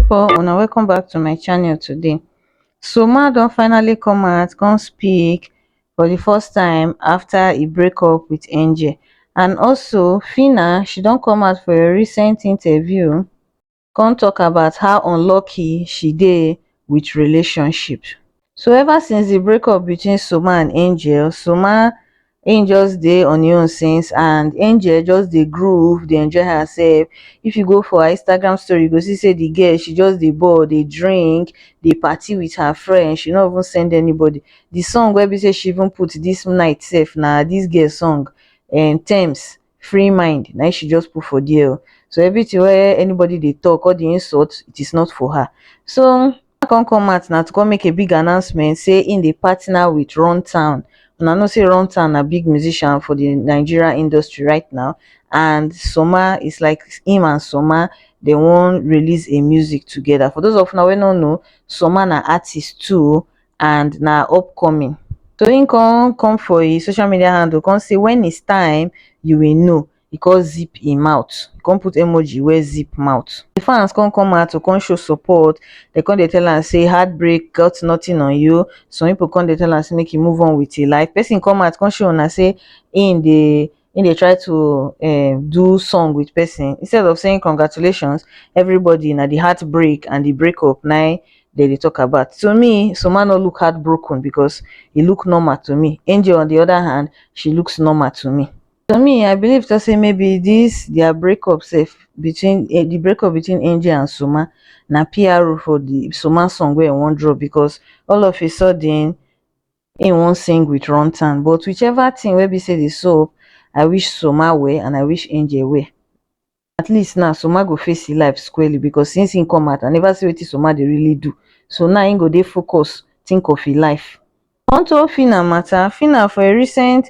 pipo una welcome back to my channel today so ma don finally come out come speak for the first time after e break up with angel and also Fina she don come out for a recent interview come talk about how unlucky she dey with relationship so ever since the breakup between soma and angel soma him just dey on him own since and angel just dey groove dey enjoy herself if you go for her instagram story you go see say the girl she just dey ball dey drink dey party with her friends she no even send anybody the song wey be say she even put this night sef na this girl song um tems free mind na im she just put for there oh. So everything wey anybody dey talk, all the insult, it is not for her. So I come come out na to come make a big announcement say im dey partner with Run Town. Una know say Run Town na big musician for the Nigeria industry right now and Soma is like him and Soma they wan release a music together. For those of una wey no know, Soma na artist too oh, and na upcoming. Toyin come come for his social media handle come say when it's time you will know he come zip him mouth he come put emoji where zip mouth the fans come come out to come show support they come they tell and say heartbreak got nothing on you some people come they tell and say make you move on with your life person come out come show and say in the he dey try to um do song with person instead of saying congratulations everybody na the heartbreak and the breakup na im dem dey talk about to me Soma no look heartbroken because he look normal to me Angel on the other hand she looks normal to me to me I believe to say maybe this their breakup sef between eh, the breakup between Angel and Soma na PRO for the Soma song wey I wan drop because all of a sudden he wan sing with runtown but which ever thing wey be say dey sup i wish soma well and i wish angel well at least now soma go face him life squarely because since him come out i never see wetin soma dey really do so now him go dey focus think of him life unto phyna matter phyna for a recent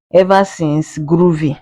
ever since groovy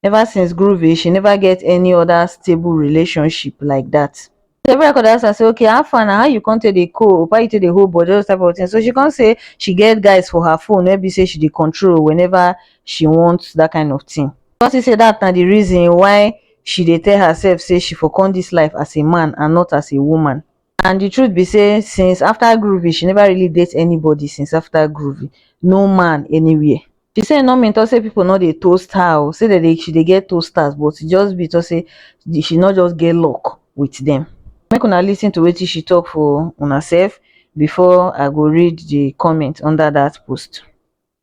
ever since groovy she never get any other stable relationship like that so everybody come dey ask am say okay how far na how you come take dey cope how you take dey hold body all those type of things so she come say she get guys for her phone wey be say she dey control whenever she want that kind of thing come see say that na the reason why she dey tell herself say she for come this life as a man and not as a woman and the truth be say since after groovy she never really date anybody since after groovy no man anywhere she say no mean talk say people no dey toast her o say they dey she dey get toasters but e just be talk say the- she no just get luck with them make una lis ten to wetin she talk for una sef before i go read the comment under that post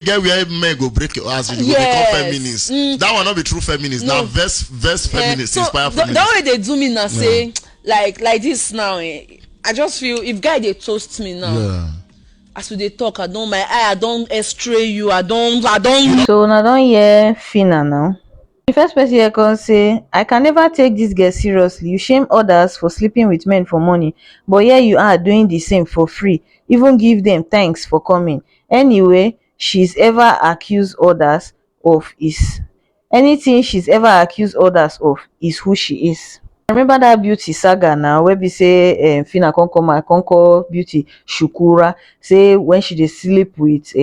get where men go break your ass you yes. go become feminist mm. that one no be true feminist no. na verse verse eh, feminist yeah. so inspire feminist. that way dey do me na say yeah. like like this now eh, i just feel if guy dey toast me now. Yeah. as we dey talk i don my eye i don x-ray you i don i don. so una don hear fina now. di first pesin hear kon sey, i can neva take dis girl seriously, you shame odas for sleeping wit men for morning but here you are doing di same for free even give dem thanks for coming anyway she's ever accuse odas of is anytin she's ever accuse odas of is who she is. I remember dat beauty saga na wey be sey Phyna kon come out kon call beauty shukura sey wen she dey sleep wit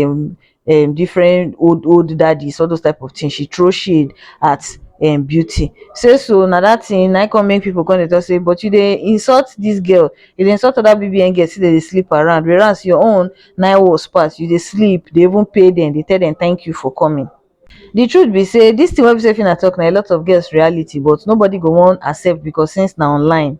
um different old old daddies all those type of thing she throw shade at um beauty say so na that thing na come make people come dey talk say but you dey insult this girl you dey insult other bbn girls say they dey sleep around whereas your own na worse pass you dey sleep dey even pay them dey tell them thank you for coming the truth be say this thing wey be say Phyna talk na a lot of girls reality but nobody go wan accept because since na online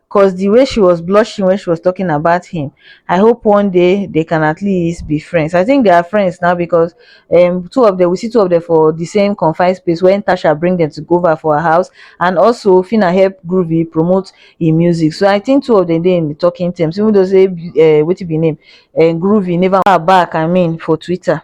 cause the way she was blushing when she was talking about him i hope one day they can at least be friends i think they are friends now because um two of them we see two of them for the same confined space when tasha bring them to go over for her house and also fina help groovy promote him music so i think two of them they in the talking terms even though say uh, what be name and uh, groovy never back i mean for twitter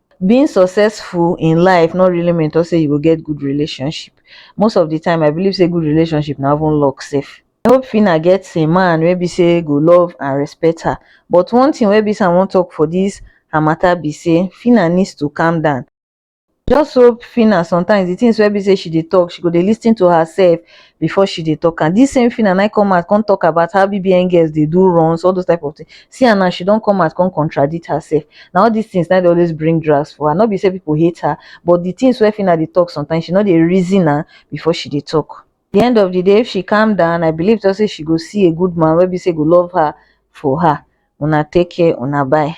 being successful in life no really mean to say you go get good relationship most of the time i believe say good relationship na even luck sef i hope fina get a man wey be say go love and respect her but one thing wey be say i wan talk for this her matter be say fina needs to calm down just hope fina sometimes the things wey be say she dey talk she go dey lis ten to herself before she dey talk am this same Fina na come out come talk about how BBN girls dey do runs all those type of things see am now she don come out come contradict herself na all these things na dey always bring drags for her no be say people hate her but the things wey Fina dey talk sometimes she no dey reason am before she dey talk the end of the day if she calm down I believe to say she go see a good man wey be say go love her for her una take care una bye.